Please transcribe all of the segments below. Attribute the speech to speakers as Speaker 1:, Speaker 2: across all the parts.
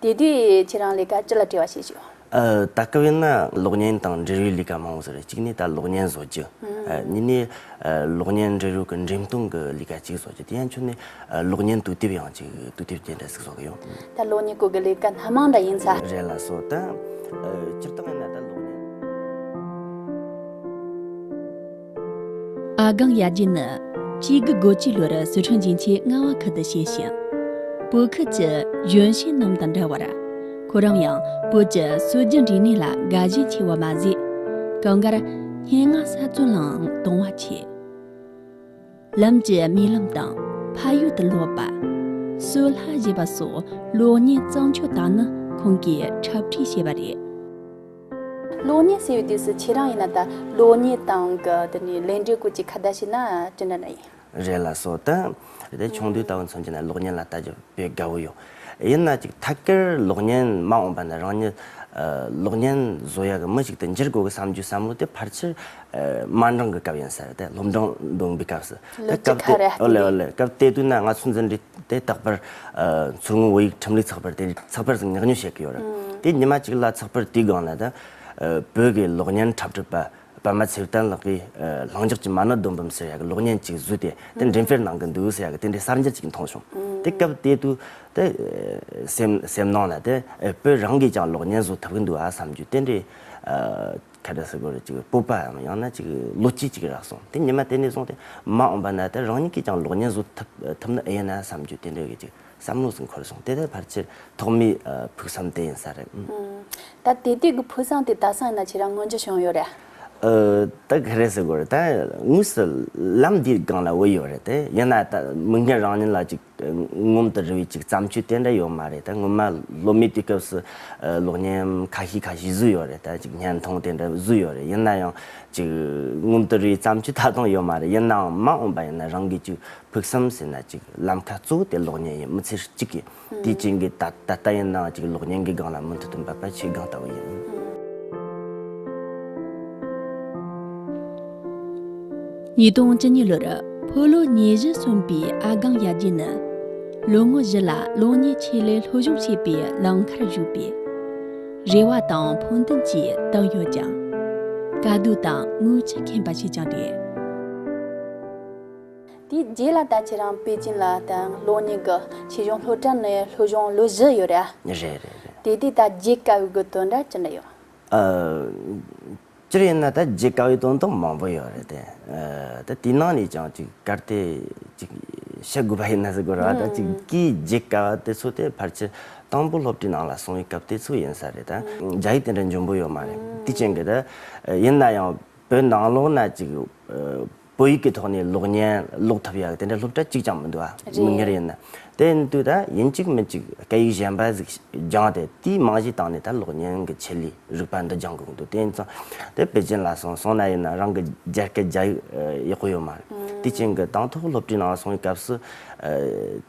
Speaker 1: དེ་དུས་ཁྱེད་རང་ལས་ཀ་ཅི་ལ་བྲེལ་བ་བྱེད་ཞོག། ད་སྐབས་ཡིན་ན་གློག་བརྙན་དང་འབྲེལ་ཡོད་ལས་ཀ་མང་བོ་བཟོ་
Speaker 2: རེད་གཅིག་ནས་ད་གློག་བརྙན་བཟོ་རྒྱུ། གཉིས་ནས་གློག་བརྙན་འབྲེལ་ཡོད་ཀྱི་འགྲེམས་སྟོན་གྱི་ལས་ཀ་གཅིག་བཟོ་རྒྱུ་དེ་ཡན་ཆོད་ནས་གློག་བརྙན་དུས་དེབ་ཡང་གཅིག་
Speaker 1: དུས་དེབ་རྒྱན་དྲ་ཟིག་བཟོ་གི་ཡོད། ད་གློག་བརྙན་སྐོར་གྱི་ལས་ཀ་སྣ་མང་འདྲ་ཡིན་ཚ། རེད་ལ་སོ་ད།
Speaker 2: སྤྱིར་བཏང་ཡིན་ན་ད་གློག་བརྙན། ཨ་སྒང་ཡར་རྒྱས་ནི་དཔྱིད་དགུ་དགུ་བཅུའི་ལོར་སི་ཁྲོན་རྒྱན་ཆའི་རྔ་བ་ཁུལ་དུ་བཤད་ཤིང།
Speaker 3: བོད་ཁུལ་གྱི་གཞོན་སྐྱེས་རྣམས་དང་འདྲ་བར། ཁོ་རང་ཡང་བོད་ཀྱི་སྲོལ་རྒྱུན་རིག་གནས་ལ་དགའ་ཞེན་ཆེ་བ་མ་ཟད། གངས་དཀར། སྙན་ངག་གསར་རྩོམ་ལའང་དུང་བ་ཆེ། ལམ་གྱི་རྨི་ལམ་དང་ཕ་ཡུལ་དུ་ལོག་པ། སོལ་ལྷ་བཞེས་པ་སོགས་
Speaker 1: གློག་བརྙན་གཙང་ཕྱོགས་དག་ནི་ཁོང་གིས་འཁྲབ་ཁྲིད་བྱས་པ་རེད། གློག་བརྙན་ཟེར་བའི་དུས་སུ་ཁྱེད་རང་ཡིན་ན་ད་གློག་བརྙན་དང་དེ་ནས་ལས་འབྲས་སྐོར་གྱི་ཁ་བརྡ་བྱས་ན་ཅི་འདྲ་ན་ཡིན། རེད་ལ་སོགས་དང། དེ་ཆུང་དུས་ལྟ་བུ་མཚོན་གྱི་ན་གློག་བརྙན་ལ་ལྟ་རྒྱུ་དཔེ་དགའ་བོ་ཡོད། ཡིན་ན་ཅིག་ཐད་ཀར་གློག་བརྙན་མ་འོངས་པ་ནི་རང་ཉིད་གློག་བརྙན་བཟོ་ཡག་གི་མི་ཞིག་ཏུ་འགྱུར་དགོས་གི་བསམ་རྒྱུ་བསམ་བློ་དེ་ཕར་ཆེར་དམའ་
Speaker 2: འབྲིང་གི་སྐབས་ཡིན་ཟེར་དེ་སློབ་འབྲིང་འདོན་པའི་སྐབས་སུ། སྐབས་དེ་དུས་ན་ང་ཚོའི་འཛིན་གྲྭའི་དེ་རྟག་པར་མཚོ་སྔོན་བོད་ཡིག་ཁྲིམས་ལུགས་ཚགས་པར་དེ་ཚགས་པར་ཟིག་ཉག་ཉོ་བྱེད་ཀྱི་ཡོད་རེད་དེ་ཉི་མ་ཅིག་ལ་ཚགས་པར་དེའི་སྒང་ལ་ད་བོད་ཀྱི་གློག་བརྙན་འཁྲབ་ཁྲིད་པ་པདྨ་ཚེ་བརྟན་ལགས་ཀྱིས་ལྷིང་འཇགས་ཀྱི་མ་ཎི་སྡོམ་བུམ་ཟེར་ཡག་གི་གློག་བརྙན་ཅིག་བཟོས་ཏེ་དེ་འགྲེམས་སྤེལ་གནང་གི་འདུག་ཟེར་ཡག་གི་དེ་འདྲའི་གསར་འགྱུར་ཅིག་མཐོང་བྱུང། དེ་སྐབས་དེ་དུས་དེ་སེམས་སེམས་ནང་ལ་དེ་བོད་རང་གིས་ཀྱང་གློག་བརྙན་བཟོ་ཐུབ་གི་འདུག་ཨ་བསམ་རྒྱུ་དེ་འདྲའི་ཁ་བརྡ་སིལ་བུར་ཅིག་
Speaker 1: སྤོབས་པའམ་ཡང་ན་ཅིག་བློ་སྐྱེད་ཅིག་རག་སོང་དེ་ཉི་མ་དེ་ནས་བཟུང་སྟེ་མ་འོངས་པ་ན་དེ་རང་ཉིད་ཀྱིས་ཀྱང་གློག་བརྙན་བཟོ་ཐུབ་ཐུབ་ནི་ཨེ་ཡིན་ན་བསམ་རྒྱུ་དེ་འདྲའི་གི་ཅིག་བསམ་བློ་ཟིག་འཁོར་སོང་དེ་ལྟའི་བར་ཆེར་ཐོག་མའི་ཕུགས་བསམ་དེ་ཡིན་ས་རེད། ད་དེ་དུས་ཀྱི་ཕུགས་བསམ་དེ་ད་སང་ན་ཁྱེད་རང་སྔོན་ཆད་བྱུང་ཡོད་རེད།
Speaker 2: ད་ག་རེ་ཟེར་དགོས་རེད་ད་དངོས་སུ་ལམ་འདིའི་སྒང་ལ་འོས་ཡོད་རེད་དེ་ཡིན་ན་ད་མི་ངན་རང་ཉིད་ལ་ཅིག་ངོམ་དུ་རི་བའི་ཅིག་བརྩམས་ཆོས་དེ་འདྲ་ཡོད་མ་རེད་ད་སྔོན་མ་ལོ་མའི་དུས་སྐབས་སུ་གློག་བརྙན་ཁ་ཤས་ཁ་ཤས་བཟོས་ཡོད་རེད་ད་ཅིག་བརྙན་ཐུང་དེ་འདྲ་བཟོས་ཡོད་རེད་ཡིན་ན་ཡང་ཅིག་ངོམ་དུ་རི་བའི་བརྩམས་ཆོས་ད་དུང་ཡོད་མ་རེད་ཡིན་ནའང་མ་འོངས་པ་ཡིན་ན་རང་གིས་ཅིག་ཕུགས་བསམ་ཟེར་ན་ཅིག་ལམ་ཁ་གཙོ་བོ་དེ་གློག་བརྙན་ཡིན་མི་ཚེ་གཅིག་གི་དུས་ཆེན་གྱི་ད་ལྟ་ཡིན་ནའང་ཅིག་གློག་བརྙན་གྱི་སྒང་ལ་མུ་མཐུད་དུ་འབད་པ་བྱེད་སྒང་ལྟ་བུ་ཡིན།
Speaker 3: ཉིས་སྟོང་བཅུ་གཉིས་ལོར་ཕོ་ལོ་ཉིས་བཞི་གསུམ་པའི་ཨ་སྒང་ཡར་རྒྱས་ནི། ལོ་ངོ་བཞི་ལ་གློག་བརྙན་ཆེད་ལས་ལྷོ་གཞུང་ཞེས་པའི་ལམ་ཁར་ཞུགས་པས། རེ་བ་དང་ཕུགས་འདུན་བཅས་བཏགས་ཡོད་ཀྱང། དཀའ་སྡུག་དང་རྔུལ་ཆུ་ཁེངས་པ་ཞིག་ཀྱང་རེད།
Speaker 1: དེའི་རྗེས་ལ་ད་ཁྱེད་རང་པེ་ཅིན་ལ་དང་གློག་བརྙན་གྱི་ཕྱི་གཞུང་ལྷོ་བྲག་ནས་ལྷོ་གཞུང་ལོ་བཞི་ཡོད་རེད་ཨ། རེད་རེད་རེད། དེ་དུས་ད་བརྗེད་དཀའ་བའི་དགོས་དོན་འདྲ་ཅི་འདྲ་ཡོད། ཨ། སྤྱིར་ཡིན་ན་ད་བརྗེད་དཀའ་བའི་དོན་དག་མང་པོ་ཡོད་རེད་དེ། ད་དེའི་ནང་ནས་ཀྱང་ཅིག་གར་སྟེགས་ཅིག་བཤད་དགོས་པ་ཡིན་ན་ཟེར་དགོས་ར་ད་ཅིག་གིས་བརྗེད་དཀའ་བ་དེ་ཚོ་
Speaker 2: དེ་ཕར་ཆེར་དང་པོ་སློབ་ཁྲིད་ནང་ལ་སོང་བའི་སྐབས་དེ་ཚོ་ཡིན་ས་རེད་ད། རྒྱ་ཡིག་དེ་འདྲ་འབྱོན་པོ་ཡོད་མ་རེད་དེ་བྱིངས་ཀྱི་ད། ཡིན་ན་ཡང་བོད་ནང་ལོགས་ན་ཅིག། བོད་ཡིག་གི་ཐོག་ནས་གློག་བརྙན་ཀློག་ཐུབ་ཡག་དེ་འདྲ་སློབ་གྲྭ་གཅིག་ཀྱང་མི་འདུག་ཨ་མི་ཉེར་ཡིན་ན། དེ་ཡིན་དུས་ད་ཡིན་གཅིག་མིན་གཅིག་སྐད་ཡིག་གཞན་པ་ཟིག་སྦྱངས་ཏེ་དེའི་རྨང་གཞི་བཏང་ནས་ད་གློག་བརྙན་གྱི་ཆེད་ལས་རིག་པ་འདི་སྦྱང་དགོས་ཀྱི་འདུག་དེ་ཡིན་ཙང་དེ་པེ་ཅིན་ལ་སོང་སོང་ན་ཡིན་ན་རང་གི་རྒྱ་སྐད་རྒྱ་ཡིག་ཡག་པོ་ཡོད་མ་རེད། དེ་ཅིན་གྱི་
Speaker 1: དང་ཐོག་སློབ་གྲྭའི་ནང་སོང་བའི་སྐབས་སུ།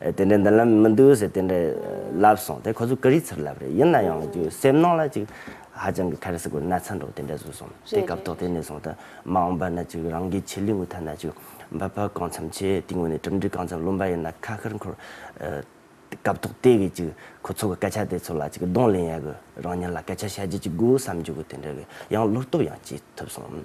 Speaker 2: དེ་འདྲའི་མདུན་ལམ་མི་འདུག་ཟེར་དེ་འདྲ་ལབ་སོང་དེ་ཁོ་ཚོས་ཀུ་རེའི་ཚུར་ལབ་རེད་ཡིན་ན་ཡང་ཅིག་སེམས་ནང་ལ་ཅིག་ཧ་ཅང་གི་ཁ་རེ་ཟི་དགོས་ན་ཚ་འདོག་དེ་འདྲ་བཟོས་སོང་དེ་སྐབས་ཐོག་དེ་ནས་བཟུང་ད་མ་འོངས་པ་ན་ཅིག་རང་གི་ཆེད་ལུས་ངུ་ཐ་ན་ཅིག་འབབ་འཕར་གང་འཚམ་ཆེ་དེའི་ངོས་ནས་གྲུབ་འབྲས་གང་འཚམ་ལོན་པ་ཡིན་ན་ཁ་ཁར་འཁོར་སྐབས་ཐོག་དེ་གི་ཅིག་ཁོ་ཚོ་གི་སྐད་ཆ་དེ་ཚོ་ལ་ཅིག་གདོང་ལེན་ཡ་གི་རང་ཉིད་ལ་སྐད་ཆ་བཤད་རྒྱུ་ཅིག་དགོས་བསམ་རྒྱུ་གི་དེ་འདྲ་གི་ཡང་བློ་སྟོབས་ཡང་སྐྱེས་ཐུབ་སོང།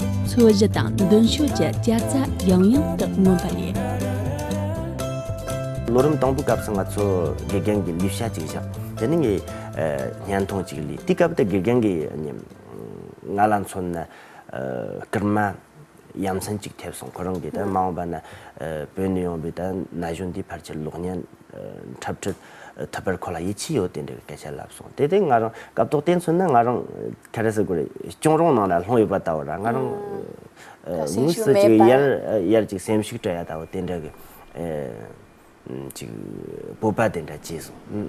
Speaker 3: མཚོ་བཞི་དང་མདུན་ཕྱོགས་ཀྱི་སྐྱ་རྫ་ཡང་ཡང་དུ་མངོན་པ་རེད།
Speaker 2: ལོ་རིམ་དང་པོའི་སྐབས་སུ་ང་ཚོ་དགེ་རྒན་གྱི་ལས་བྱ་གཅིག་བཞག་དེ་ནི་ངའི་བརྙན་ཐུང་གཅིག་ལས་དེའི་སྐབས་དེ་དགེ་རྒན་གྱིས་ང་ལ་མཚོན་ན་སྐར་མ་ཡ་མཚན་གཅིག་ཐེབས་སོང་ཁོ་རང་གིས་ད་མ་འོངས་པ་ན་བོད་ནས་ཡོང་བའི་ན་གཞོན་དེའི་བར་གྱི་གློག་བརྙན་འཁྲབ་ཁྲིད་ཐོད་པར་ཁོ་ལ་ཡིད་ཆེས་ཡོད་དེ་འདྲའི་སྐད་ཆ་ལབ་སོང་དེ་དེ་ང་རང་སྐབས་ཐོག་བལྟས་མཚོན་ན་ང་རང་གྷ་རེ་ས་གོ་རེ་གཅོང་རོང་ནང་ལ་ལྷུང་ཡོད་པ་ལྟ་བུ་ར་ང་རང་དངོས་སུ་ཅིག་ཡར་ཡར་ཅིག་སེམས་ཤུགས་བྲལ་ཡ་ལྟ་བུ་དེ་འདྲ་གི་ཅིག་སྤོབས་པ་དེ་འདྲ་སྐྱེས་སོང།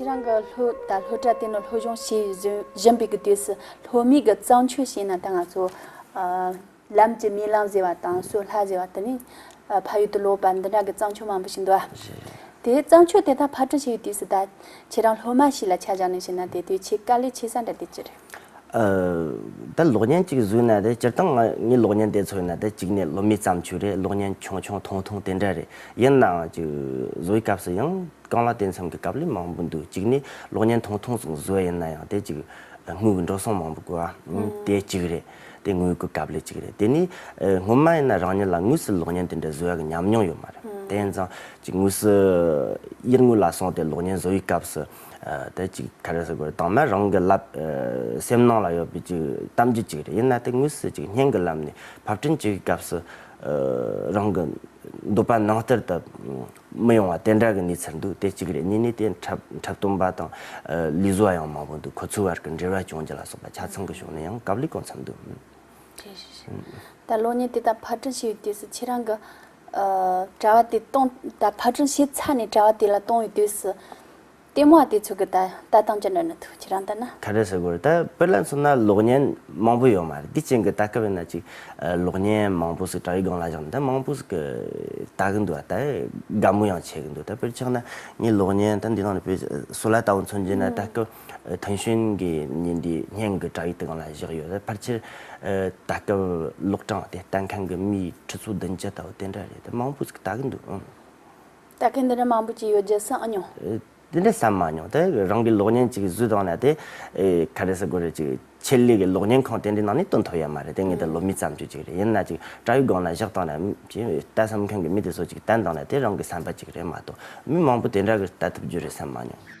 Speaker 1: ཁྱེད་རང་གི་ལྷོ་དང་ལྷོ་བྲག་དེ་ནི་ལྷོ་གཞུང་ཞེས་བཞེངས་པའི་དུས་སུ་ལྷོ་མིག་གི་གཙང་ཆུ་བྱས་ན་ད་ང་ཚོ་ལམ་གྱི་མིག་ལམ་ཟེར་བ་དང་སོ་ལྷ་ཟེར་བ་དེ་ནི་ཕ་ཡུལ་དུ་ལོག་པ་འདི་འདྲ་གི་གཙང་ཆུ་མང་པོ་ཞིག་འདུག་ཨ། དེ་གཙང་ཆུ་དེ་དག་ཕར་གྲུ་བྱས་པའི་དུས་སུ་ད་ཁྱེད་རང་ལྷོ་མ་ཞིག་ལ་ཆ་བཞག་ནས་བྱས་ན་དེ་དུས་ཆེས་དཀའ་ལས་ཆེ་ས་འདྲ་དེ་ཅི་རེད།
Speaker 2: ད་གློག་བརྙན་གཅིག་བཟོས་ན་དེ་སྤྱིར་བཏང་ང་ངའི་གློག་བརྙན་དེ་ཚོའི་ནང་དེ་གཅིག་ནས་ལོ་མེད་བརྩམས་ཆོས་རེད་གློག་བརྙན་ཆུང་ཆུང་ཐུང་ཐུང་དེ་འདྲ་རེད་ཡིན་ནའང་ཅིག་བཟོའི་སྐབས་སུ་ཡང་རྐང་ལག་དེ་མཚམས་ཀྱི་སྐབས་ལས་མང་པོ་འདུག་གཅིག་ནས་གློག་བརྙན་ཐུང་ཐུང་ཙམ་བཟོ་བ་ཡིན་ན་ཡང་དེ་ཅིག་དངུལ་གྱི་འགྲོ་སོང་མང་པོ་དགོས་ཨ་དེ་གཅིག་རེད་དེ་དངུལ་དགོས་སྐབས་ལས་གཅིག་རེད་དེ་ནས་སྔོན་མ་ཡིན་ན་རང་ཉིད་ལ་དངུལ་སིལ་གློག་བརྙན་དེ་འདྲ་བཟོ་ཡག་གི་ཉམས་མྱོང་ཡོད་མ་རེད་དེ་ཡིན་ཙང་ཅིག་དངུལ་སིལ་དབྱེར་དངུལ་ལ་སོང་སྟེ་གློག་བརྙན་བཟོ་བའི་སྐབས་སུ་དེ་ཅིག་ཐལ་རེ་ཟེར་བ་དང་མ་རང་གི་ལབ་སེམས་ནང་ལ་ཡོད་པའི་ཅིག་གཏམ་རྒྱུད་ཅིག་རེད་ཡིན་ན་དེ་དངོས་སུ་ཅིག་སྙན་གི་ལམ་ནས་ཕབ་སྐྲུན་ཅིག་སྐབས་སུ་རང་གི་འདོད་པ་ནང་ལྟར་དུ་མི་ཡོང་བ་དེ་འདྲ་གི་གནས་ཚུལ་འདུག་དེ་ཅིག་རེད་གཉིས་ནས་དེ་འཁྲབ་སྟོན་པ་དང་ལུས་བཟོ་བ་ཡང་མང་པོ་འདུག་ཁོ་ཚོའི་བར་གི་འབྲེལ་བ་སྐྱོང་རྒྱུ་ལ་སོགས་པ་ཆ་ཚང་གི་ཕྱོགས་ནས་ཡང་གབ་ལེགས་གང་འཚམ་འདུག། ད་
Speaker 1: གློག་བརྙན་དེ་དག་ཕར་སྐྲུན་བྱས་པའི་དུས་སུ་ཁྱེད་རང་གི་དྲ་བ་དེ་སྟོང་ད་ཕར་དྲུང་བྱས་ཚར་ནས་དྲ་བ་དེ་ལ་སྟོང་བའི་དུས་སུ། ལྟད་མོ་བ་དེ་ཚོ་གི་ད་ལྟ་དང་ཅི་འདྲ་ནི་ཐུགས་ཁྱེད་རང་ལྟར་ན། ད་རེས་ཟེར་དགོས་རེད་ད་དཔེར་
Speaker 2: ལ་མཚོན་ན་གློག་བརྙན་མང་པོ་ཡོད་མ་རེད་དེ་ཅན་གི་ད་སྐབས་ཡིན་ན་ཅིག་གློག་བརྙན་མང་པོ་ཟིག་དྲ་བའི་སྒང་ལ་བཞག་ནས་ད་མང་པོ་ཟིག་གི་ལྟ་གི་འདུག་ད་དགའ་མོ་ཡང་བྱེད་ཀྱི་འདུག་ད་དཔེར་ཆགས་ན་ངས་གློག་བརྙན་ད་འདི་ནང་ནས་བོད་སུ་ལ་ལྟ་བུ་མཚོན་གྱིན་ན་ད་སྐབས། ཐུན་གཞོན་གྱི་ཉིན་དེའི་སྙན་གྱི་བཀྲ་ཡི་སྟེང་ལ་བཞག་ཡོད་རེད། ཕར་ཆེར། ད་སྐབས་ལོག་གྲངས་དེ་ལྟ་མཁན་གྱི་མིའི་ཁྲི་ཚོ་བདུན་བརྒྱ་ལྟ་བུ་དེ་འདྲ་རེད་དེ། མང་པོ་ཟིག་ལྟ་གི་འདུག་ཨང། ལྟ་
Speaker 1: མཁན་དེ་འདྲ་མང་པོ་ཅིག་ཡོད་རྒྱུ་བསམ་མྱོང། དེ་འདྲ་བསམ་མ་
Speaker 2: མྱོང། དེ་རང་གི་གློག་བརྙན་གཅིག་བཟོས་བཏང་ན་དེ། ག་རེ་ཟེར་དགོས་རེད་ཅིག་ཆེད་ལས་ཀྱི་གློག་བརྙན་ཁང་དེ་འདྲའི་ནང་ནས་སྟོན་ཐུབ་ཡ་མ་རེད་དེ་ངེས་དོན་ལོ་མི་བརྩམས་རྒྱུ་གཅིག་རེད་ཡིན་ན་ཅིག་དགྲ་ཡི་སྒང་ན་བཞག་བཏང་ན་ཅིག་ལྟ་བསམ་མཁན་གྱི་མི་དེ་ཚོ་ཅིག་བསྟན་བཏང་ན་དེ་རང་གི་བསམ་པ་ཅིག་རེད་མ་གཏོགས་མི་མང་པོ་དེ་འདྲ་གི་ལྟ་ཐུབ་རྒྱུ་རེད་བསམ་མ་མྱོང།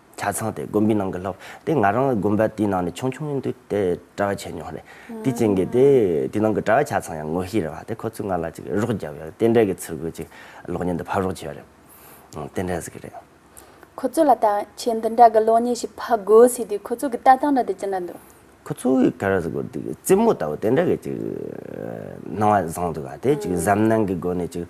Speaker 2: ཆ་ཚང་དེ་དགོན་པའི་ནང་གི་ལྷོབ་དེ་ང་རང་དགོན་པ་དེའི་ནང་ནས་ཆུང་ཆུང་ཡིན་དུས་དེ་གྲྭ་བ་བྱས་མྱོང་རེད་དེ་ཅིང་གིས་དེ་དེའི་ནང་གི་གྲྭ་བ་ཆ་ཚང་ཡང་ངོ་ཤེས་རེད་བ་དེ་ཁོ་ཚོས་ང་ལ་ཅིག་རོགས་བརྒྱབ་ཡོང་རྟེན་འབྲེལ་གྱི་ཚུར་རྒོལ་ཅིག་གློག་བརྙན་འདི་ཕབ་རོགས་བྱས་པ་རེད་རྟེན་འབྲེལ་ཟེར་གི་རེད། ཁོ་ཚོ་ལ་ཐང་
Speaker 1: ཆེན་འདི་འདྲ་གི་གློག་བརྙན་ཞིག་ཕབ་དགོས་ཟེར་དུས་ཁོ་ཚོ་གི་ལྟ་སྟངས་འདྲ་དེ་ཅི་འདྲ་འདུག། ཁོ་ཚོ་གི་ཁ་ར་
Speaker 2: ཟེར་དགོས་དུས་རྩེད་མོ་ལྟ་བུ་དེ་འདྲ་གི་ཅིག་སྣང་བ་བཟང་འདུག་བ་དེ་ཅིག་གཟབ་ནན་གི་སྒོ་ནས་ཅིག་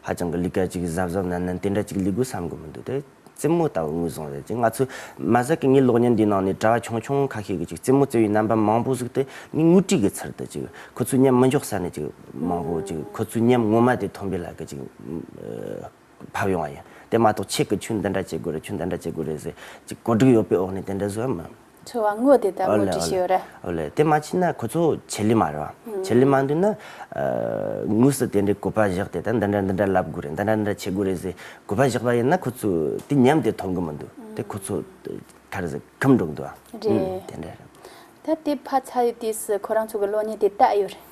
Speaker 2: ཧ་ཅང་གི་ལུས་ཀ་ཅིག་གཟབ་གཟབ་ནན་ནན་དེ་འདྲ་ཅིག་ལུས་དགོས་བསམ་དགོས་མི་འདུག་དེ། རྩེད་མོ་ལྟ་བུ་ངོས་བཟུང་ཡོད་ཅིང་ང་ཚོས་མ་ཟད་ཀྱི་ངའི་གློག་བརྙན་འདིའི་ནང་ནས་གྲྭ་བ་ཆུང་ཆུང་ཁ་ཤས་ཀྱིས་ཅིག་རྩེད་མོ་རྩེ་བའི་རྣམ་པ་མང་པོ་གཟིགས་ཏེ་ངས་ངུ་སྐྲིད་ཀྱི་ཚུལ་དུ་ཅིག་ཁོ་ཚོའི་ཉམས་མི་འཇོག་ས་ནས་ཅིག་མང་པོ་ཅིག་ཁོ་ཚོའི་ཉམས་ངོ་མ་དེ་ཐོན་པའི་ལག་གི་ཅིག་བབས་ཡོང་བ་ཡིན་དེ་མ་གཏོགས་ཁྱེད་ཀྱིས་ཆོས་འདི་འདྲ་བྱེད་དགོས་རེད་ཆོས་འདི་འདྲ་བྱེད་དགོས་རེད་ཟེར་ཅིག་གོ་སྒྲིག་ཡོད་པའི་འོག་ནས་དེ་འདྲ་བཟོས་ཡ་མིན། འཚོལ་བ་དངོས་དེ་
Speaker 1: ལྟར་ངོས་འཛིན་བྱས་ཡོད་རེད། ཨོ་ལེ། དེ་མ་བྱས་ན་
Speaker 2: ཁོ་ཚོ་ཆེད་ལས་མ་རེད་བ། ཆེད་ལས་མ་འདུག་ན། དངོས་སུ་དེ་འདྲའི་གོ་པ་བཞག་སྟེ་ད་འདི་འདྲ་འདི་འདྲ་ལབ་དགོས་རེད་འདི་འདྲ་འདི་འདྲ་བྱེད་དགོས་རེད་ཟེར་གོ་པ་བཞག་པ་ཡིན་ན་ཁོ་ཚོས་དེ་ཉམས་དེ་མཐོང་གི་མི་འདུག་དེ་ཁོ་ཚོ་མཐར་ཟད་ཁམས་འགྲོ་གི་འདུག་བ། རེད། དེ་འདྲ་རེད། ད་དེ་
Speaker 1: ཕ་ཚ་ཡོད་དུས་སུ་ཁོ་རང་ཚོ་གི་གློག་བརྙན་དེ་བལྟ་ཡོད་རེད།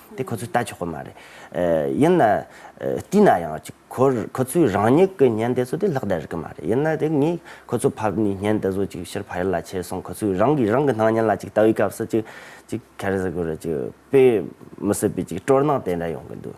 Speaker 2: དེ་ཁོ་ཚོས་ལྟ་ཆོག་གི་མ་རེད། ཡིན་ན། བལྟས་ན་ཡང། ཁོ་ཚོས་རང་ཉིད་ཀྱི་བརྙན་དེ་ཚོ་དེ་ལྷག་བསྡད་རིགས་ཀྱི་མ་རེད། ཡིན་ན་དེ་ངས་ཁོ་ཚོ་ཕབ་ནས་བརྙན་དེ་ཚོ་ཅིག་ཕྱིར་ཕ་ཡུལ་ལ་ཁྱེར་སོང་ཁོ་ཚོས་རང་གིས་རང་གི་སྣང་བརྙན་ལ་ཅིག་ལྟ་བའི་སྐབས་སུ་ཅིག་ཅིག་ཁེར་ཟི་གུ་རེ་ཅིག་དཔེ་མི་སྲིད་པའི་ཅིག་སྤྲོར་སྣང་དེ་འདྲ་ཡོང་གི་འདུག།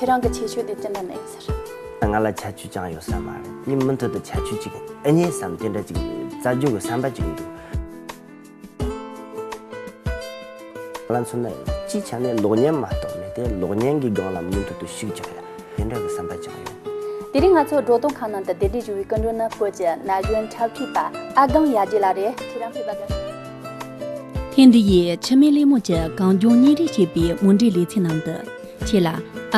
Speaker 1: ཁྱེད་རང་གི་ཁྱད་ཆོས་དེ་ཅི་འདྲ་མེད་ཟེར། ང་ལ་ཁྱད་ཆོས་
Speaker 2: ཅང་ཡོད་ས་མ་རེད་དེ་མུ་མཐུད་དུ་ཁྱད་ཆོས་ཅིག་ཨེ་རྙེད་བསམ་དེ་འདྲ་ཅིག་རྩ་རྒྱུག་གི་བསམ་པ་ཅིག་འདུག། ང་ལ་མཚོན་ན་སྤྱིའི་ཆ་ནས་གློག་བརྙན་མ་གཏོགས་མེད་དེ་གློག་བརྙན་གྱི་སྒང་ལ་མུ་མཐུད་དུ་ཞུགས་ཅིག་དེ་འདྲ་གི་བསམ་པ་ཅང་ཡོད། དེ་རིང་ང་ཚོ་སྒྲོག་
Speaker 1: སྟོང་ཁང་ནང་དུ་བདེ་ལྡན་ཞུ་བའི་སྐུ་མགྲོན་ནི་བོད་ཀྱི་ན་གཞོན་འཁྲབ་ཁྲིད་པ་ཨ་སྒང་ཡ་རྗེ་ལགས་རེད། ཁྱེད་རང་ཕེབས་པ་དང། ཐེངས་འདི་ཡི་
Speaker 3: འཆི་མེད་གླིང་མོ་ཀྱི་གངས་ལྗོངས་གཉིས་རེ་ཞེས་པའི་མུ་འབྲེལ་ལེ་ཚན་ནང་དུ་ཁྱེད་ལ་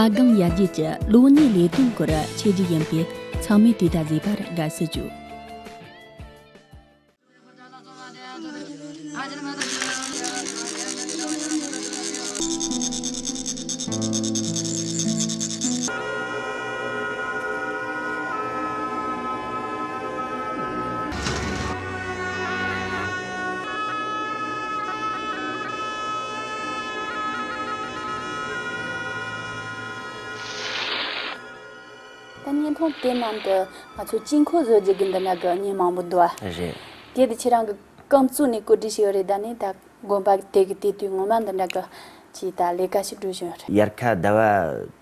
Speaker 3: ཨ་སྒང་ཡར་རྒྱས་ཀྱི་ལོ་གཉིས་ལས་དོན་སྐོར་འཆད་རྒྱུ་ཡིན་པས་ཚང་མས་དུས་ད་གཟོད་པར་དགའ་བསུ་ཞུ།
Speaker 1: ད་བརྙན་ཐུང་དེ་ནང་དུ་ང་ཚོས་དཀྱིལ་འཁོར་བཟོ་རྒྱུ་དགོས་འདོད་ན་དགའ་བརྙན་མང་པོ་འདུག་ཨ། རེད། གལ་
Speaker 2: ཏེ་ཁྱེད་རང་གི་
Speaker 1: རྐང་བཙུགས་ནས་བཀོད་སྒྲིག་བྱས་ཡོད་རེད་ད་ནི་ད་དགོན་པ་དེ་གི་དེ་དུས་ངོ་མ་འདི་འདྲ་གི་ཅིག་ད་ལས་ཀ་ཞིག་སྒྲུབ་བཞིན་ཡོད་རེད། དབྱར་ཁ་ཟླ་བ་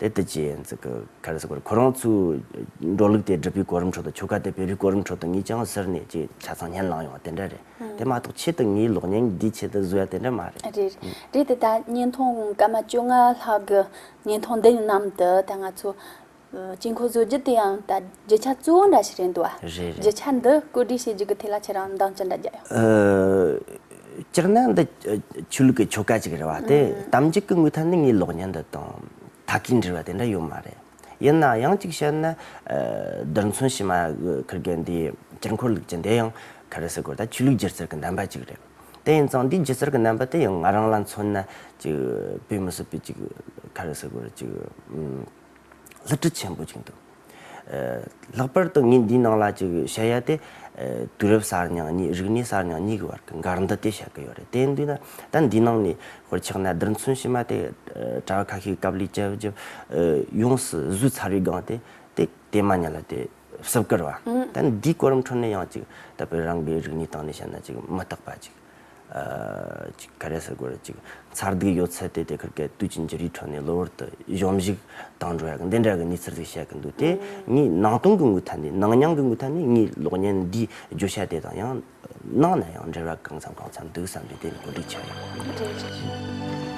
Speaker 2: དེ་དེ་རྗེས་ག་རེ་ཟེར་དགོས་རེད་ཁོ་རང་ཚོའི་འགྲོ་ལུགས་དེ་སྒྲུབ་པའི་གོ་རིམ་ཁྲོད་དུ་ཆོལ་ཁ་དེ་བོད་རིགས་གོ་རིམ་ཁྲོད་དུ་ངས་ཅང་ཟེར་ནས་ཅིག་ཆ་ཚང་ཉན་ལངས་ཡོང་བ་དེ་འདྲ་རེད་དེ་མ་གཏོགས་ཆེད་དུ་ངའི་ལོག་གཉེན་གྱི་འདིའི་ཆེད་དུ་བཟོས་ཡ་དེ་འདྲ་མ་རེད། རེད་རེད་དེ་ད་བརྙན་
Speaker 1: ཐུང་སྐར་མ་བཅོ་ལྔ་ལྷག་གི་བརྙན་ཐུང་འདི་རྣམས་དུ་ད་ང་ཚོ་དཀྱིལ་འཁོར་བཟོ་རྒྱུ་དེ་ཡང་ད་རྒྱུ་ཆ་གཙོ་བོ་འདྲ་ཞིག་རེད་འདུག་རེད་རེད། རྒྱུ་ཆ་འདི་བཀོད་སྒྲིག་བྱེད་རྒྱུ་གི་དེ་ལ་ཁྱེད་རང་འདང་ཅི་འདྲ་རྒྱག་ཡོང། སྤྱིར་
Speaker 2: ན་འདི་ཆོས་ལུགས་ཀྱི་ཆོ་ག་ཅིག་རེད་བ་སྟེ་དམ་འཇུག་གི་དངོས་ཐ་ནི་ངའི་ལོག་ཉན་འདི་དང་ཐ་གིས་འབྲེལ་བ་དེ་འདྲ་ཡོད་མ་རེད། ཡིན་ནའང་ཡང་གཅིག་བཤད་ན། རྡུལ་མཚོན་བྱེ་མ་ཁུར་མཁན་དེའི་སྤྱིར་འཁོར་ལུགས་ཅན་དེ་ཡང་ཁ་རི་སི་གོར་དང་ཆོས་ལུགས་སྒྱུ་རྩལ་གྱི་རྣམ་པ་ཅིག་རེད། དེ་ཡིན་ཙང་འདིའི་སྒྱུ་རྩལ་གྱི་རྣམ་པ་དེ་ཡང་ང་རང་ལ་མཚོན་ན་ཅིག་བོད་མི་སོ་པའི་ཅིག་ཁ་རི་སི་གོར་ཅིག། བསླུ་བྲིད་ཆེན་པོ་ཅིག་འདུག། ལྷག་པར་དུ་ངས་འདིའི་ནང་ལ་བཅུག་པའི་བཤད་ཡ་དེ། དུས་རབས་གསར་རྙིང་གཉིས་རིག་གནས་གསར་རྙིང་གཉིས་ཀྱི་བར་གྱི་འགལ་འདུ་དེ་བཤད་ཀྱི་ཡོད་རེད་དེ་འདུག་ན་ད་འདིའི་ནང་ནས་ཧོར་ཆགས་ན་བསྡིར་མཚོན་ཕྱི་མ་དེ། གྲྭ་བ་ཁ་ཤས་ཀྱི་སྐབས་ལས་བྱེད་བརྒྱུད། ཡོངས་སུ་བཟོས་ཚར་བའི་སྒང་དེ། དེ་དེ་མ་ཉིད་ལ་དེ་བསུབ་བཀར་བ། ད་འདིའི་གོ་རིམ་ཁྲོད་ནས་ཡང་ཅིག་ད་བོད་རང་གི་རིག་གནས་སྟེང་ནས་བཤད་ན་ཅིག་མི་རྟག་པ་ཅིག། ག་རེ་ཟེར་དགོས་རེད་ཅིག། མཚར་སྡུག་ཡོད་ཚད་དེ་དེ་གར་གས་དུས་ཀྱི་འགྱུར་རིས་ཁྲོད་ནས་གློ་བུར་དུ་གཞོམ་གཞིག་བཏང་འགྲོ་ཡག་གི་འདི་འདྲ་གི་གནས་ཚུལ་ཟིག་བཤད་གི་འདུག་དེ་ངའི་ནང་སྟོང་གི་དངུལ་ཐད་ནས་ནང་མྱང་གི་དངུལ་ཐད་ནས་ངའི་གློག་བརྙན་འདིའི་བརྗོད་བྱ་དེ་དང་ཡང་ནང་ནས་ཡང་འབྲེལ་བ་གང་འཚམ་གང་འཚམ་འདུག་བསམ་པས་དེ་ནས་གོ་སྒྲིག་བྱས་ཡོད། གོ་སྒྲིག་བྱས་ཡོད།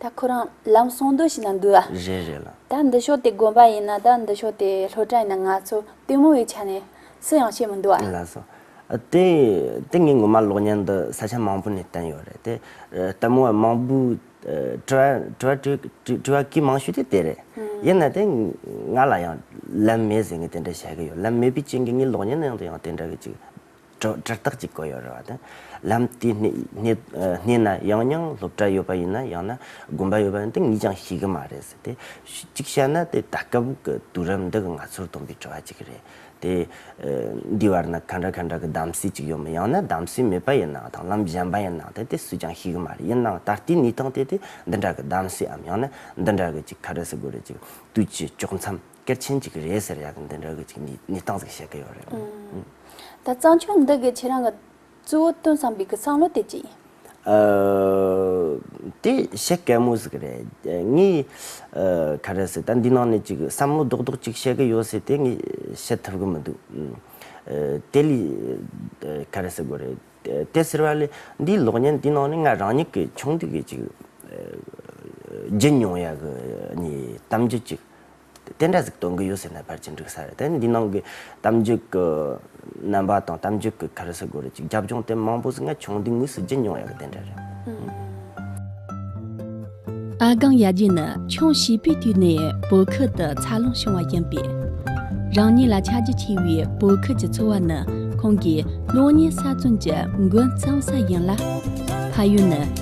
Speaker 1: ད་ཁོ་རང་ལམ་སོང་དུས་ཤིག་ན་འདུག་ཨ། རེད་རེད་ལ། ད་འདི་
Speaker 2: ཕྱོགས་དེ་དགོན་པ་
Speaker 1: ཡིན་ན་ད་འདི་ཕྱོགས་དེ་ལྷོ་བྲག་ཡིན་ན་ང་ཚོ་ལྟད་མོ་བའི་ཆ་ནས་སུ་ཡང་ཤེས་མི་འདུག་ཨ། ལགས་སོ།
Speaker 2: དེ་དེ་ངས་ངོ་མ་གློག་བརྙན་འདི་ས་ཆ་མང་པོ་ནས་བསྟན་ཡོད་རེད་དེ། ལྟད་མོ་བ་མང་པོས་དྲི་བ་གི་མང་ཤོས་དེ་དེ་རེད། ཡིན་ན་དེ་ང་ལ་ཡང་ལམ་མེད་ཟེར་ངས་དེ་འདྲ་བཤད་ཀྱི་ཡོད་ལམ་མེད་པའི་རྐྱེན་གྱིས་ངའི་གློག་བརྙན་ནང་དུ་ཡང་དེ་འདྲ་གི་ཅིག་གྲོགས་འདྲེར་རྟགས་ཀྱི་གོ་ཡོད་རེད་བ་དང། ལམ་དེའི་སྣེ་ན་ཡང་ཡང་སློབ་གྲྭ་ཡོད་པ་ཡིན་ན་ཡང་ན་དགོན་པ་ཡོད་པ་ཡིན་དེ་གཉིས་ཀྱང་ཤེས་གི་མ་རེད་ཟེར་ཏེ། གཅིག་བཤད་ན་དེ་ད་སྐབས་ཀྱི་དུས་རབས་འདི་ང་ཚོར་སྟོན་པའི་བྲོ་བ་ཅིག་རེད་དེ། འདིའི་བར་ན་ག་འདྲ་ག་འདྲ་གི་གདམ་གསེས་ཅིག་ཡོད་མོད་ཡང་ན་གདམ་གསེས་མེད་པ་ཡིན་ནའང་ཐང་ལམ་གཞན་པ་ཡིན་ནའང་ཐལ་དེ་སུས་ཀྱང་ཤེས་གི་མ་རེད་ཡིན་ནའང་ད་ལྟའི་གནས་སྟངས་དེ་དེ་འདི་འདྲ་གི་གདམ་གསེས་འམ་ཡང་ན་འདི་འདྲ་གི་ཅིག་ག་རེ་ཟེར་དགོས་རེད་ཅིག་དུས་ཀྱི་དཀྱོགས་མཚམས། སྐད་ཆེན་གཅིག་རེད་ཟེར་ཡག་གི་འདི་འདྲ་གི་ཅིག་ནི་སྟངས་ཟིག་བཤད་གི་ཡོད་རེད་ཨང། ད་གཙང་
Speaker 1: ཆུང་འདི་གི་ཁྱེད་རང་གི་གཙོ་བོ་སྟོན་བསམ་པའི་གི་བསམ་བློ་དེ་ཅི་ཡིན།
Speaker 2: དེ་བཤད་དཀའ་མོ་ཟིག་རེད། ངས་ག་རེ་ཟེར་ད་འདི་ནང་ནས་ཅིག་བསམ་བློ་རྡོག་རྡོག་ཅིག་བཤད་གི་ཡོད་ཟེར་དེ་ངས་བཤད་ཐུབ་གི་མི་འདུག། དེ་ལས་ག་རེ་ཟེར་དགོས་རེད། དེ་ཟེར་བ་ལས་འདིའི་གློག་བརྙན་འདི་ནང་ནས་ང་རང་ཉིད་ཀྱི་ཆུང་དུས་ཀྱི་ཅིག་བརྒྱུད་མྱོང་ཡག་གི་གནས་གཏམ་རྒྱུད་ཅིག་དེ་འདྲ་ཟིག་གཏོང་གི་ཡོད་ཟེར་ན་ཕར་ཕྱིན་འགྲིག་ས་རེད་དེ་འདི་ནང་གི་གཏམ་རྒྱུད་ཀྱི་རྣམ་པ་དང་གཏམ་རྒྱུད་ཀྱི་ཁར་སི་གོ་རེ་ཅིག་རྒྱབ་ལྗོངས་དེ་མང་པོ་ཟིག་ང་ཆུང་དུས་ངོས་སུ་བརྒྱུད་མྱོང་ཡག་གི་དེ་འདྲ་རེད། ཨ་སྒང་ཡབ་རྗེ་ནི་ཆུང་བྱིས་པའི་དུས་ནས་བོད་ཁུལ་དུ་འཚར་ལོངས་བྱུང་
Speaker 3: བ་ཡིན་པས། རང་ཉིད་ལ་ཆ་རྒྱུས་ཆེ་བའི་བོད་ཁུལ་གྱི་འཚོ་བ་ནི་ཁོང་གི་གློག་བརྙན་གསར་རྩོམ་གྱི་འགོ་གཙང་ས་ཡིན་ལ། ཕ་ཡུལ་ནི།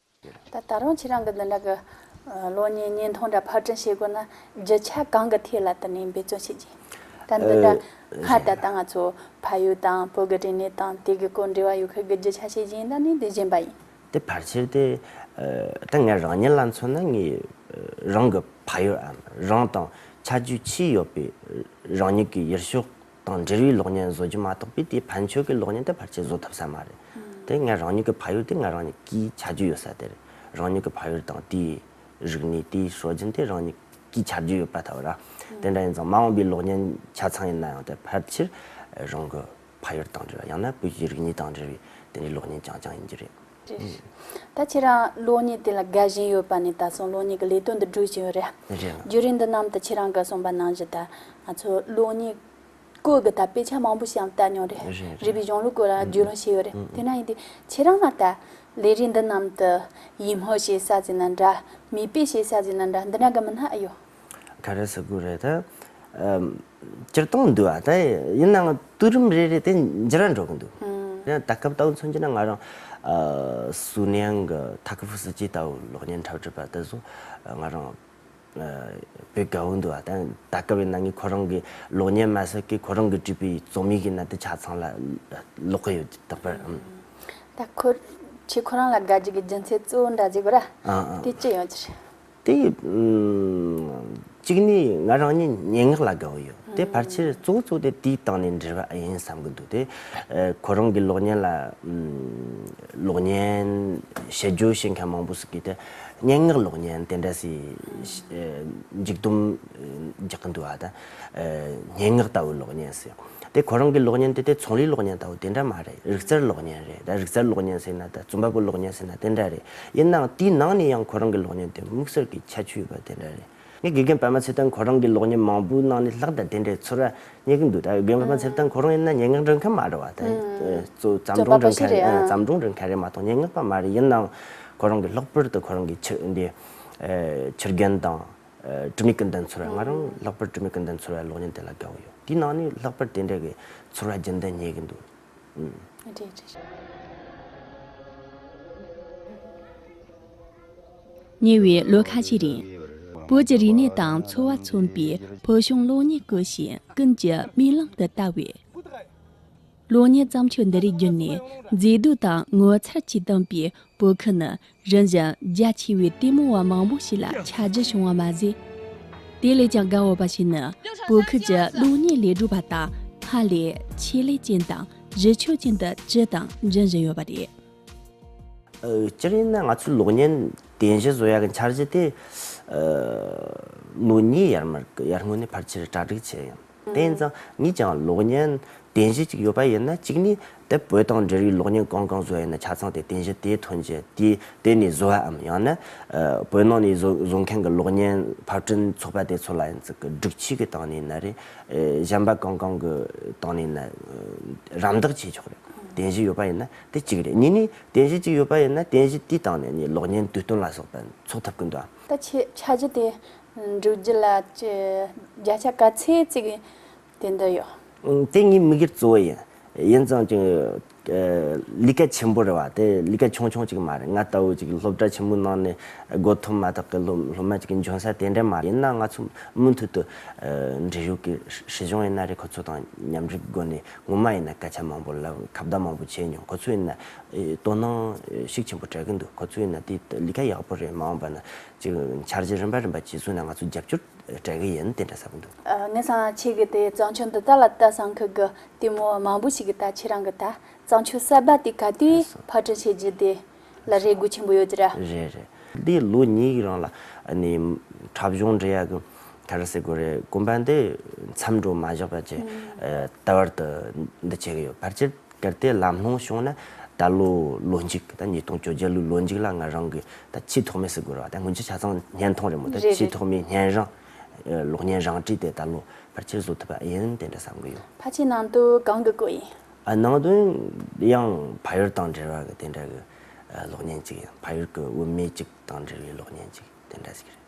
Speaker 1: ད་ད་རུང་ཁྱེད་རང་གི་འདི་འདྲ་གི་གློག་བརྙན་བརྙན་ཐུང་འདྲ་ཕར་འཕྲིན་བྱེད་དགོས་ན་རྒྱུ་ཆ་གང་གི་ཐད་ལ་དེ་ནས་འབད་བརྩོན་བྱེད་ཀྱི། ད་འདི་འདྲ་སྔར་ད་ལྟ་ང་ཚོ་ཕ་ཡུལ་དང་བོད་དགེ་དྲིན་ནས་དང་དེ་གི་སྐོར་འབྲེལ་བ་ཡོད་མཁན་གི་རྒྱུ་ཆ་བྱེད་ཀྱིན་ད་ནི་དེ་གཞན་པ་ཡིན། དེ་ཕར་ཆེར་དེ་
Speaker 2: ད་ངས་རང་ཉིད་ལ་མཚོན་ན་ངས་རང་གི་ཕ་ཡུལ་འམ་རང་དང་ཆ་རྒྱུས་ཆེས་ཡོད་པའི་རང་ཉིད་ཀྱི་ཡུལ་ཤོག་དང་འབྲེལ་བའི་གློག་བརྙན་བཟོ་རྒྱུ་མ་གཏོགས་པའི་དེའི་ཕན་ཆོད་ཀྱི་གློག་བརྙན་དེ་ཕར་ཆེར་བཟོ་ཐུབ་ས་མ་རེད། དེ་ངས་རང་ཉིད་ཀྱི་ཕ་ཡུལ་དེ་ངས་རང་ཉིད་ཀྱིས་བྱ་རྒྱུ་ཡོད་ས་དེ་རེད། རང་ཉིད་ཀྱི་ཕ་ཡུལ་དང་དེའི་རིག་གནས་དེའི་སྲོལ་རྒྱུན་དེ་རང་ཉིད་ཀྱིས་བྱ་རྒྱུ་ཡོད་པ་ཐལ་བ་ར། དེ་འདྲ་ཡིན་ཙང་མ་འོངས་པའི་གློག་བརྙན་ཆ་ཚང་ཡིན་ན་ཡང་དེ་ཕར་ཆེར་རང་གི་ཕ་ཡུལ་དང་འབྲེལ་བ་ཡང་ན་བོད་ཀྱི་རིག་གནས་དང་འབྲེལ་བའི་དེ་འདྲའི་གློག་བརྙན་རྐྱང་རྐྱང་ཡིན་རྒྱུ་རེད། ད་
Speaker 1: ཁྱེད་རང་གློག་བརྙན་དེ་ལ་དགའ་བཞིན་ཡོད་པ་ནས་ད་སོང་གློག་བརྙན་གྱི་ལས་དོན་འདི་སྒྲུག་བཞིན་ཡོད་རེད། རྒྱུ་རིགས་འདི་རྣམས་ད་ཁྱེད་རང་ག་སོང་པ་ནང་བཞིན་ད་ང་ཚོ་གློག་བརྙན་སྐོར་གྱི་ད་དཔེ་ཆ་མང་པོ་ཞིག་བལྟ་མྱོང་རེད། རིག་པའི་གཞུང་ལུགས་སྐོར་ལའང་རྒྱུས་ལོན་བྱས་ཡོད་རེད། དེ་ན་ཡིན་དུས་ཁྱེད་རང་ལ་ད་ལས་རིགས་འདི་རྣམས་ད་ཡིད་སྨོན་བྱེད་ས་ཟེར་ན་འདྲ། མིག་དཔེ་བྱེད་ས་ཟེར་ན་འདྲ་འདི་འདྲ་ག་མི་སྣ་ཨེ་ཡོད། ག་རེ་ཟེར་དགོས་
Speaker 2: རེད་ད། སྤྱིར་བཏང་འདུག་ཨ་ད་ཡིན་ནའང་བསྟུད་རིམ་རེ་རེ་དེ་འཇི་རང་འགྲོ་གི་འདུག་ད་སྐབས་ལྟ་བུ་མཚོན་གྱི་ན་ང་རང་སུའུ་ནེང་གི་ཐ་ཁི་ཧྥུ་སི་ཅི་ལྟ་བུ་གློག་བརྙན་འཁྲབ་ཁྲིད་པ་དེ་ཚོ་ང་རང་བོད་དགའ་བོ་འདུག་ཨ་ད་ད་སྐབས་ཡིན་ན་ངས་ཁོ་རང་གི་གློག་བརྙན་མ་ཟད་ཀི་ཁོ་རང་གི་བྲིས་པའི་རྩོམ་ཡིག་ཡིན་ན་དེ་ཆ་ཚང་ལ་
Speaker 1: ཀློག་
Speaker 2: གི་ཡོད་དེ་ལྟ་བུ། ད་ཁོ་ཆོས་
Speaker 1: ཁོ་རང་ལ་དགའ་རྒྱུ་གི་རྒྱུ་མཚན་གཙོ་བོ་འདྲ་ཟེར་དགོས་ར་དེ་ཅི་ཡོད་ཅེ་རེད། དེ།
Speaker 2: གཅིག་ནས་ང་རང་ཉིད་སྙན་ངག་ལ་དགའ་བོ་ཡོད་དེ་ཕར་ཆེར་གཙོ་བོ་གཙོ་བོ་དེ་དུས་བཏང་ནས་འབྲི་བ་ཨེ་ཡིན་བསམ་གྱི་འདུག་དེ། ཁོ་རང་གི་གློག་བརྙན་ལ། གློག་བརྙན་ཞེས་བརྗོད་ཤེས་མཁན་མང་པོ་ཞིག་གིས་དེ་སྙན་ངག་གློག་བརྙན་དེ་འདྲ་ཞིག། མཇུག་བསྡོམས་རྒྱག་གི་འདུག་ཨ་ད། སྙན་ངག་ལྟ་བུའི་གློག་བརྙན་ཟེར། དེ་ཁོ་རང་གི་གློག་བརྙན་དེ་དེ་ཚོང་རའི་གློག་བརྙན་ལྟ་བུ་དེ་འདྲ་མ་རེད། རིག་རྩལ་གློག་བརྙན་རེད། རིག་རྩལ་གློག་བརྙན་ཟེར་ན་དང་རྩོམ་པ་པོའི་གློག་བརྙན་ཟེར་ན་དེ་འདྲ་རེད། ཡིན་ནའང་དེའི་ནང་ནས་ཡང་ཁོ་རང་གི་གློག་བརྙན་དེ་དམིགས་བསལ་གྱི་ཁྱད་ཆོས་ཡོད་པ་དེ་འདྲ་རེད། ངས་དགེ་རྒན་པདྨ་ཚེ་བརྟན་ཁོ་རང་གི་གློག་བརྙན་མང་པོའི་ནང་ནས་ལྷག་དང་དེ་འདྲའི་ཚོར་བ་རྙེད་ཀྱི་འདུག་ད་དགེ་རྒན་པདྨ་ཚེ་བརྟན་ཁོ་རང་ཡིན་ན་སྙན་ངག་འབྲི་མཁན་མ་རེད་བ་དང། བརྩམས་སྒྲུང་འབྲི་མཁན་རེད། བརྩམས་སྒྲུང་འབྲི་མཁན་རེད་མ་གཏོགས་སྙན་ངག་པ་མ་རེད་ཡིན་ནའང་ཁོ་རང་གི་ལྷག་པར་དུ་ཁོ་རང་གི་ཕྱི་འདི། ཕྱི་རྒྱན་དང། དྲི་མེད་ཀུན་ལྡན་ཚོར་བས་ང་རང་ལྷག་པར་དྲི་མེད་ཀུན་ལྡན་ཚོར་བའི་གློག་བརྙན་དེ་ལ་དགའ་བོ་ཡོད་དེའི་ནང་ནས་ལྷག་པར་དེ་འདྲ་གི་ཚོར་བ་རྒྱུན་ལྡན་རྙེད་གི་འདུག་ཨུ། རེད་རེད་རེད།
Speaker 3: ཉེ་བའི་ལོ་ཁ་ཤས་རིང། བོད་ཀྱི་རིག་གནས་དང་འཚོ་བ་མཚོན་པའི་བོད་གཞུང་གློག་བརྙན་སྐུ་ཞིང་ཀུན་གྱི་མིག་ལམ་དུ་བལྟ་བའི། གློག་བརྙན་བརྩམས་ཆོས་འདི་རིགས་བརྒྱུད་ནས་མཛེས་སྡུག་དང་ངོ་མཚར་གྱིས་གཏམས་པའི་བོད་ཁུལ་ནི་རིམ་བཞིན་རྒྱ་ཆེ་བའི་ལྟད་མོ་བ་མང་པོ་ཞིག་ལ་ཆ་རྒྱུས་བྱུང་བ་མ་ཟད། དེ་ལས་ཀྱང་དགའ་འོས་པ་ཞིག་ནི་བོད་ཁུལ་གྱི་གློག་བརྙན་ལས་སྒྲུབ་པ་དག་སྔར་ལས་ཆེད་ལས་ཅན་དང་གཞི་ཆོས་ཅན་དུ་སྤྱི་དང་འབྱུང་བཞིན་ཡོད་པ་རེད། སྤྱིར་
Speaker 2: ཡིན་ན་ང་ཚོའི་གློག་བརྙན་རྟེན་གཞི་བཟོ་ཡག་གི་འཆར་གཞི་དེ་ལོ་གཉིས་ཡར་མར་གྱི་ཡར་སྔོན་ནས་ཕར་ཆེར་གྲ་སྒྲིག་བྱས་ཡིན། དེ་ཡིན་ཙང་ངས་ཀྱང་གློག་བརྙན་རྟེན་གཞི་གཅིག་ཡོད་པ་ཡིན་ན་གཅིག་ནི་དེ་བོད་དང་འབྲེལ་བའི་གློག་བརྙན་གང་གང་བཟོས་ཡོད་ན་ཆ་ཚང་དེ་རྟེན་གཞི་དེའི་ཐོན་རྗེས་དེའི་སྟེང་ནས་བཟོ་བའམ་ཡང་ན་བོད་ནང་ནས་བཟོ་མཁན་གྱི་གློག་བརྙན་ཕབ་སྐྲུན་ཚོགས་པ་དེ་ཚོ་ལ་ཡང་ཙི་གི་སྒྲིག་ཆས་ཀྱི་སྟེང་ནས་ན་རེ་གཞན་པ་གང་གང་གི་སྟེང་ནས་ན་རམ་འདེགས་བྱེད་ཆོག་རེད་རྟེན་གཞི་ཡོད་པ་ཡིན་ན་དེ་གཅིག་རེད་གཉིས་ནི་རྟེན་གཞི་གཅིག་ཡོད་པ་ཡིན་ན་རྟེན་གཞི་དེའི་སྟེང་ནས་ནས་གློག་བརྙན་དུས་སྟོན་ལ་སོགས་པ་འཚོགས་ཐུབ་ཀྱི་འདུག་ད་ཆ་རྒྱུ་
Speaker 1: དེ་འགྲོ་རྒྱུ་ལ་བརྒྱ་ཆ་ག་ཚད་ཅིག་དེ་འདོད་ཡོད། དེ་ངའི་
Speaker 2: མིག་སྒེར་གཙོ་བོ་ཡིན། ཡིན་ཙང་ཀྱང། ལི་ཀ་ཆེན་པོ་རེད་བ་དེ་ལི་ཀ་ཆུང་ཆུང་ཅིག་མ་རེད་ང་ལྟ་བུ་ཅིག་སློབ་གྲྭ་ཆེན་མོའི་ནང་ནས་སྒོ་ཐོབ་མ་ཐག་གི་སློབ་མ་ཅིག་གི་འབྱུང་ས་དེ་འདྲ་མ་རེད་ཡིན་ན་ང་ཚོ་མུ་མཐུད་དུ། འབྲི་གཞུག་གི་སྲིད་གཞུང་ཡིན་ན་རེད་ཁོ་ཚོ་དང་མཉམ་རིགས་སྒོ་ནས་ངོ་མ་ཡིན་ན་སྐད་ཆ་མང་པོ་ལབ་ཁ་བརྡ་མང་པོ་བྱས་མྱོང་ཁོ་ཚོ་ཡིན་ན་དོ་སྣང་ཤུགས་ཆེན་པོ་སྤྲད་གི་འདུག་ཁོ་ཚོ་ཡིན་ན་དེ་ལི་ཀ་ཡག་པོ་རེད་མ་འོངས་པ་ན་ཅིག་འཆར་གཞི་རིམ་པ་རིམ་པ་བཅས་བཟོས་ནས་ང་ཚོ་རྒྱབ་སྐྱོར་སྤྲད་གི་ཡིན་དེ་འདྲ་ཟེར་གི་འདུག། ངས་སང་ལ་ཁྱེད་ཀྱི་
Speaker 1: དེ་གཙང་ཆུ་འདི་དག་ལ་ལྟ་སང་ཁུལ་གྱི་ལྟད་མོ་མང་པོ་ཞིག་གིས་ད་ཁྱེད་རང་གི་ད་གཙང་ཆུ་གསར་པ་དེ་ག་དུས་ཕར་སྐྲུན་བྱེད་རྒྱུ་དེ་ལ་རེ་སྒུག་ཆེན་པོ་ཡོད་ཀྱི་རེད། རེད་རེད། འདི་
Speaker 2: ལོ་གཉིས་ཀྱི་རིང་ལ་ནི་འཁྲབ་གཞུང་འབྲེལ་ཡག་གི་ཐ་རུ་ཟེར་དགོས་རེད་གོམ་པ་འདི་མཚམས་འགྲོ་མ་བཞག་པ་བཅས་ལྟ་བར་དུ་འདི་བྱེད་ཀྱི་ཡོད་ཕར་ཆེར་གལ་ཏེ་ལམ་ལྷོངས་བྱུང་ན་ད་ལོའི་ལོ་འཇིག་དང་ཉིས་སྟོང་བཅོ་བརྒྱད་ལོའི་ལོ་འཇིག་ལ་ང་རང་གི་ད་ཆེས་ཐོག་མའི་སི་གོ་ར་བ་དང་སྔོན་ཆད་ཆ་ཚང་བརྙན་ཐུང་རེད་མོད་ད་ཆེས་ཐོག་མའི་བརྙན་རང་གློག་བརྙན་རང་བྲིས་ཏེ་ད་ལོ་ཕར་ཆེར་བཟོ་ཐུབ་པ་ཨེན་དེ་འདྲ་བསམ་གི་ཡོད། ཕ་ཆེ་ནང་དུ་གང་
Speaker 1: གི་གོ་ཡིན། ནང་དོན་
Speaker 2: ཡང་ཕ་ཡུལ་དང་འབྲེལ་བ་གི་དེ་འདྲ་གི་གློག་བརྙན་ཅིག་ཡིན་ཕ་ཡུལ་གི་དབུ་མེད་ཅིག་དང་འབྲེལ་བའི་གློག་བརྙན་ཅིག་དེ་འདྲ་ཞིག་རེད།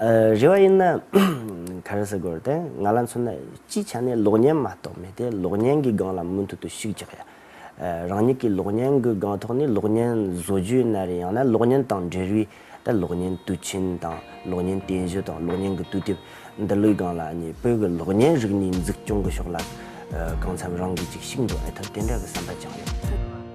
Speaker 1: རེ་
Speaker 2: བ་ཡིན་ན། ག་རེ་ཟེར་དགོས་རེད། ང་ལ་མཚོན་ན་སྤྱི་ཆ་ནས་ལོག་ཉན་མ་གཏོགས་མེད་དེ་ལོག་ཉན་གི་སྒང་ལ་མུ་མཐུད་དུ་ཤུགས་རྒྱག་ཡ། རང་ཉིད་ཀྱི་ལོག་ཉན་གི་སྒང་ཐོག་ནས་ལོག་ཉན་བཟོ་རྒྱུའི་ན་རེ་ཡང་ན་ལོག་ཉན་དང་འབྲེལ་བའི་ད་ལོག་ཉན་དུས་ཆེན་དང་ལོག་ཉན་རྟེན་གཞི་དང་ལོག་ཉན་གྱི་དུས་དེབ་འདི་ལོའི་སྒང་ལ་གཉིས་བོད་ཀྱི་ལོག་ཉན་རིག་གནས་འཛུགས་སྐྱོང་གི་ཕྱོགས་ལ་གང་འཚམ་རང་གིས་ཅིག་ཤིག་འདོན་ཨེ་ཐུབ་དེ་འདྲ་གི་བསམ་པ་བཅངས་ཡོད།